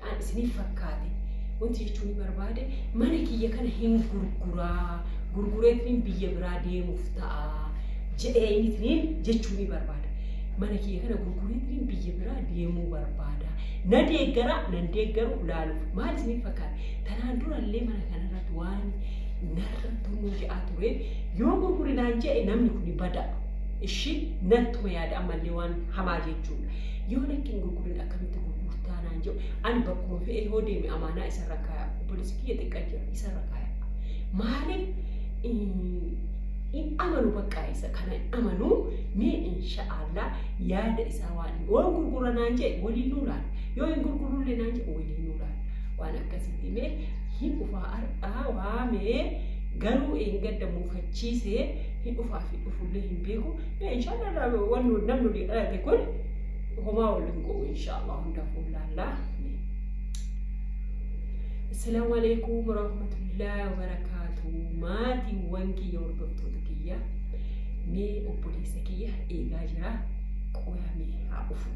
An isiniif fakkaate wanti jechuun barbaade mana kiyya kana hin gurguraa gurgureetiniin biyya biraa deemuuf ta'a jedhee innitiniin jechuun barbaada. Mana kiyya kana gurgureetiniin biyya biraa deemuu barbaada. Na deeggaraa nan deeggaru laaluuf maal isiniif fakkaate tanaan durallee mana kanarratti waan narra tunnuu jedhaa ture yoo gurgurinaan jedhe namni kun bada. Ishii nattuma yaada ammallee waan hamaa jechuudha. Yoo lakkiin gurgurin akkamitti gurgurtu? bitaa naan jedhu ani bakkuma fe'ee hoo deeme amaanaa isarra kaaya obboleessi kiyya xiqqaa jira isarra kaaya maaliif hin amanu baqqaa isa kana hin amanu mee insha'Allah yaada isaa waan hin waan gurgura naan jedhe waliin nuu laala yoo hin gurgurullee naan jedhe waliin nuu laala waan akkasitti mee hin dhufaa har'aa waamee garuu eeggadda muufachiisee hin dhufaa fi dhufullee hin beeku mee insha'Allah waan namni arge kun homaa waliin go'u inshaallah hunda fuullaallaa Assalamu alaikum warahmatullahi wabarakatuh maatiiwwan kiyya hordoftoota kiyya mee obboleessa kiyya eegaa jira qoramee haa dhufu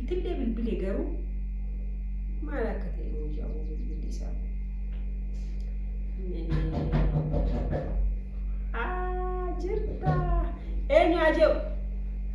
ittillee bilbile garuu maal akka ta'e yoo jaa'u bilbilli isaa jirta eenyu haa jedhu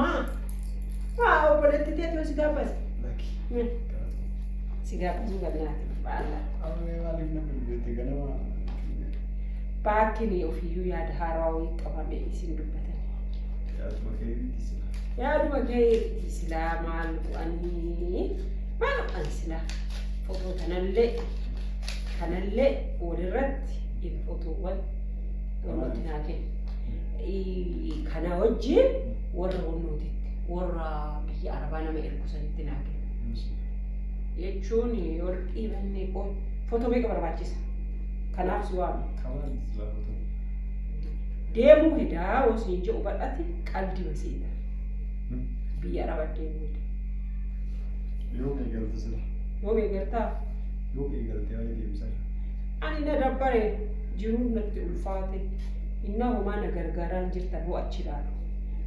Maa? Maa obboleetti teetu si gaafas. Si gaafasuu gannaati. Baakkiin ofiyyuu yaada haarawaa wayii qabame isin dubbatan. Yaaduma keetti silaa maal bu'anii maal bu'an silaa footoo kanallee kanallee walirratti fotoowwan Nutti naa kenni. Kana wajjin warra humnootitti warra biyya arabaa nama ergu sanitti naa kenni. Jechuun warqii mannee qoo footoo meeqa barbaachisa? Kanaaf si waama. Deemuu hedaa wasiin jedhu badhati qaldi wasiidha. Biyya arabaa deemuu hedaa. Yoom eegalte sila? Yoom eegaltaa? Yoom eegalte haala deemsa? Ani na dabbare. jiruun natti ulfaate innaa homaa na gargaaraan jirta boo achi ilaalu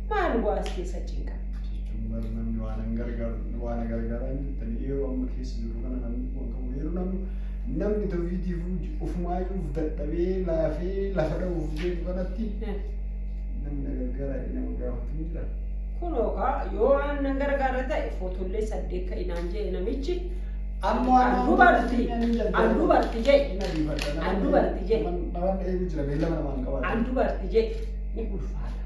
maal waa as keessa cinqa jechuun bar namni waa nan gargaaru waa na gargaaraan jirtan yeroo amma keessa jiru kana namni waan qabu yeroo namni namni tawhiidiif ufumaayyuuf dadhabee laafee lafa dha'uuf deemu kanatti namni na gargaaraa jedhee nama gaafatu hin jira. kunoo kaa yoo waan nan gargaara ta'e footollee saddeet ka'inaan jee namichi Ammoo an dubarti, an dubarti je, an dubarti je, Namaan eegu jira beellama namaan hin qabaatu. an dubarti je ni ulfaata.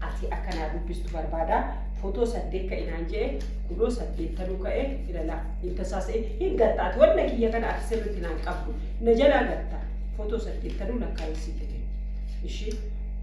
Ati akka naa dubbistu barbaada. Footoo saddeet ka'e naan je'e, kunoo saddeettanuu ka'e ilala. Intasaasee hin gatta. Ati wanna kiyya kana ati sirriitti naan qabdu. Na jalaa gatta. Footoo saddeettanuu lakkaa'ee sitti kenna. Ishii.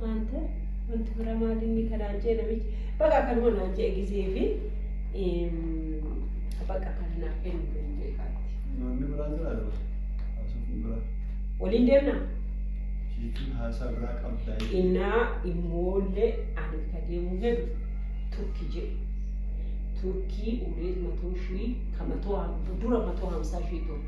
Maanta wanti biraa maal inni kanaan jee namichi baqa kanuma naan jee gisee fi baqa kana naaf kennu kan jee kaatti. Namni biraa jira dha. Haasofni biraa. Waliin deemna. Jechuun haasaa biraa qabdaa. Innaa immoollee ani ka deemuu fedhu turki jee. Turkii ulee matoo shii ka matoo dura matoo hamsaa shii ture.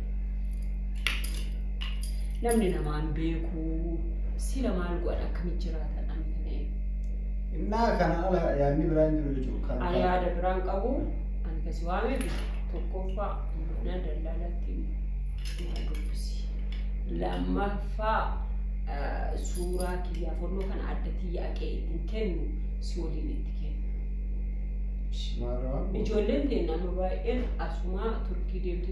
namni namaan beekuu sila maal godhan akkamitti jiraatan ani kana eegu. Innaa kana ala yaadni biraa hin jiru jechuudha. Kan Ani yaada biraan qabu ani kasi waameef tokkoffaa mana daldalatti na dubbisi. Lammaffaa eh, suuraa kiyyaa fonnoo kana adda tiyya aqee ittiin kennu si waliin itti kennu. Maarraa? Ijoolleen keenya amma baay'een asumaa turkii deemtu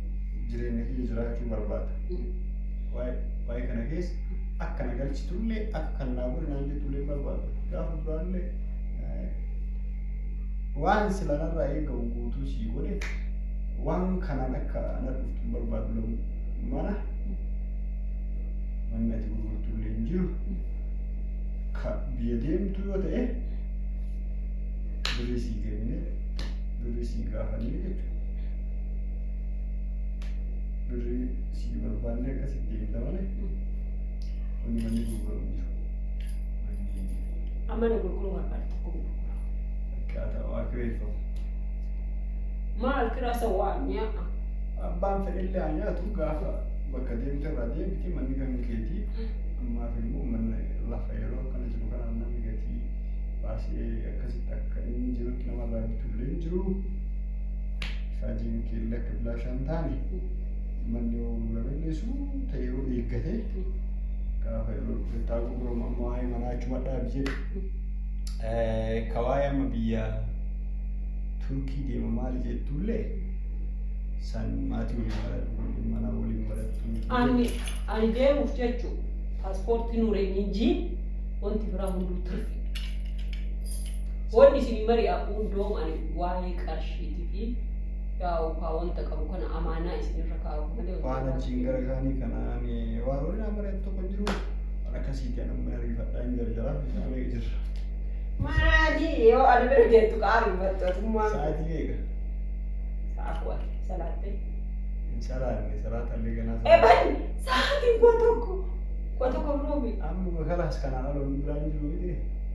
jireenya kiyya jiraachuu barbaada. Waa'ee waa'ee kana keessa akka na galchitullee akka kan naa godhe naan jettullee barbaada. Gaafa duraallee eh, waan sila narraa eegamu guutuu sii godhe waan kanaan akka na dhuftu hin barbaadu lamu mana manni ati gurgurtullee hin jiru. Ka biyya deemtu yoo ta'e birrii sii kennine birrii sii gaafanne jechuudha. birrii sii barbaannee akkasitti eegda malee wanni manni gurguramu hin jiru. Manni Amma na gurguruu barbaada tokko gurgura. akkaataa waa kireeffamu. Maal kiraasa waa mi'aa. Abbaan fedhillee haa nyaatu gaafa bakka deemte irraa deemti manni kan keetii ammaaf immoo manni lafa yeroo akkana jiru kanaan namni gatii baasee akkasitti akka inni jirutti namarraa bitullee hin jiru. Saatiin keellii akka bilaashaa hin taane manni yoo gurguramee dhiisuu ta'e yoo eeggatee gaafa yeroo bittaa gurguramu amma waa'ee manaa achuma dhaabi jedhe. Ka waa'ee amma biyya Turkii deema maali jettuullee san maatii waliin marattu waliin manaa waliin marattu. Ani ani deemuuf jechuun paaspoortii nuureenii jii wanti biraa hunduu turte. Wanni isinii mari'aa hundoom ani waa'ee qarshiiti fi daawukaa wanta qabu kana amaanaa isinirra kaa'u malee waan achiin gara kaanii kanaan waan waliin amareetu tokko hin jiru waan akkasiiti ani amma ariifadhaa hin jarjaraa isaa meeqa jirra Maali yoo ana bira geettu qaari battotummaa. sa'aatii meeqa Sa'a kudha salaattee. hin salaanne salaata illee ganaa salaata Eban sa'aatiin koo tokko koo tokko biroo miti. amma kalaas kanaan aloon biraa hin jiru miti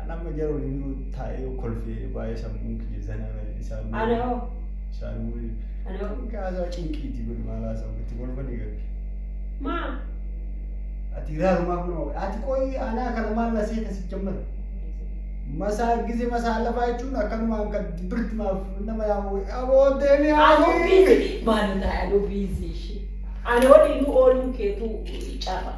An amma jara waliinuu taa'ee yoo kolfee baay'ee sammuun kiyya zanaa na jedhe isaan Ana hoo? isaan immoo Ana hoo? kan kaasaa cinqiiti godhe maal haasa'u itti kolfanii gabbi. Maa? Ati iraarumaa kun hoo? Ati qoyi anaa kana maal na seeta si jammata. Masaa gize masaa lafaa jechuun akkanumaan kan birti maaf nama yaa'u aboo deemee Anuu haasii. biizi maaloo taa'e anuu biizi ishee. Ana waliinuu ooluu keetu carra.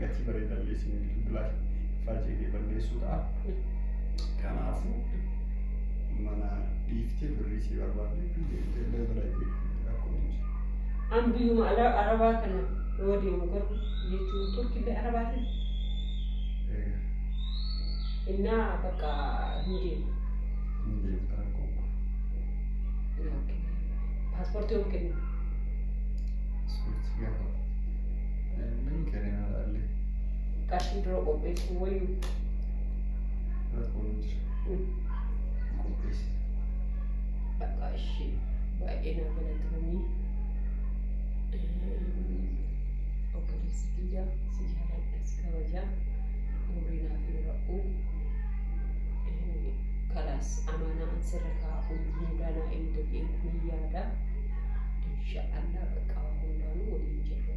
gatii bareedaa dhiyeessine bilbilaa faajjee balleessuu ta'a. Kanaafuu mana dhiiftee birrii si barbaadde deemtee balbala eeggatu rakkoo hin jiru. An biyyuma ala arabaa kana yoo deemu garuu jechuun turkillee arabaatiin Egaa innaa bakka hin deemu. hin deemta rakkoo hin qabu. Paaspoortii yoo kennu Ispoortii gaafa Inni kerinaa laalle Qarshii dura qopheessuu wayyu. rakkoon hin jiru. Qopheessi. Bakka ishee baay'ee nama galatamii. Obboleessi kiyya si jaaladha si kabaja. Umrii naaf dheeradhu. Kalaas amaanaan sirra kaa'u hundaa naa eeggatee kun yaada. Insha Allah bakka hundaanuu waliin jirra.